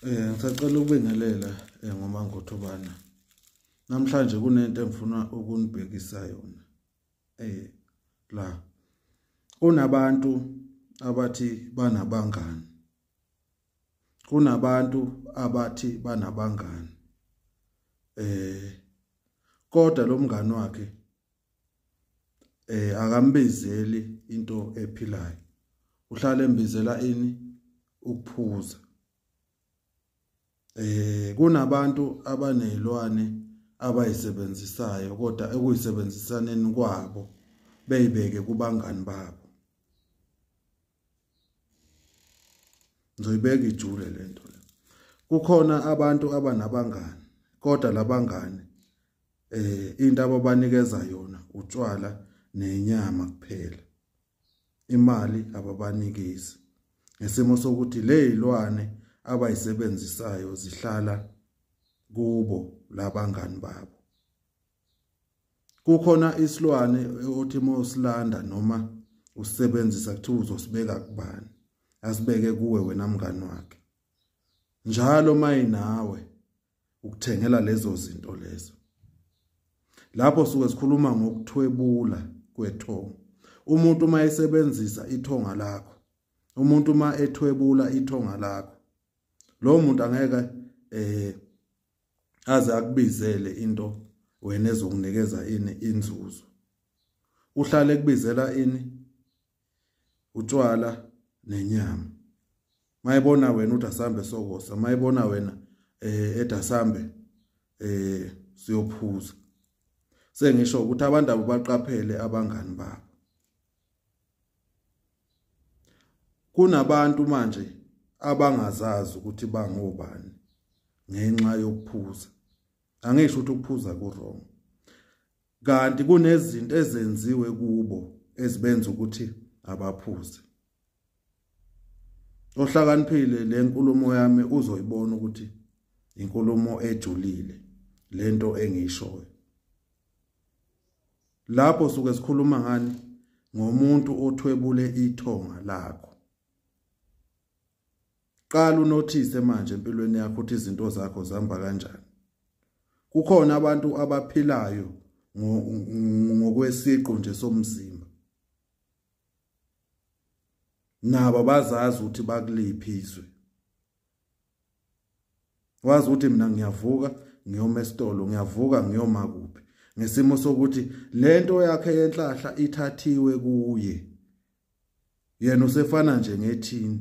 Eh ngisacela ukubingelela eh, ngoma ngothobana. Namhlanje kunento engifuna ukunibhekisa yona. Eh la kunabantu abathi banabangani. Kunabantu abathi banabangani. Eh kodwa lo mngani wakhe eh akambizeli into ephilayo uhlale embizela ini ukuphuza eh kunabantu abanezilwane abayisebenzisayo kodwa ekuyisebenzisaneni kwabo beyibeke kubangani babo ngizoyibeka ijule lento le kukhona abantu abanabangani kodwa labangani eh into ababanikeza yona utshwala nenyama kuphela imali ababanikezi ngesimo sokuthi lezilwane abayisebenzisayo zihlala kubo labangani babo kukhona isilwane othi mawusilanda noma usebenzisa kuthiwa uzosibeka kubani asibeke kuwe wena mngani wakhe njalo mayinawe ukuthengela lezo zinto lezo lapho suke sikhuluma ngokuthwebula kwethongo umuntu uma esebenzisa ithonga lakho umuntu uma ethwebula ithonga lakho lo muntu angeke eh aze akubizele into wena ezokunikeza ini inzuzo uhlale kubizela ini utshwala nenyama mayibona wena uthi asambe sokosa mayibona wena eh ethi asambe eh siyophuza sengisho ukuthi abantu abaqaphele abangani babo kunabantu manje abangazazi ukuthi bangobani ngenxa yokuphuza angisho ukuthi ukuphuza ku wrong kanti kunezinto ezenziwe kubo ezibenza ukuthi abaphuze ohlakaniphile le nkulumo yami uzoyibona ukuthi inkulumo ejulile lento engiyishoyo lapho suke sikhuluma ngani ngomuntu othwebule ithonga lakho qala unothise manje empilweni yakho ukuthi izinto zakho zihamba kanjani kukhona abantu abaphilayo ngokwesiqu nje somzimba nabo bazazi ukuthi bakuliphi izwe wazi ukuthi mina ngiyavuka ngiyoma esitolo ngiyavuka ngiyoma kuphi ngesimo sokuthi lento yakhe yenhlahla ithathiwe kuye yena usefana nje ngethini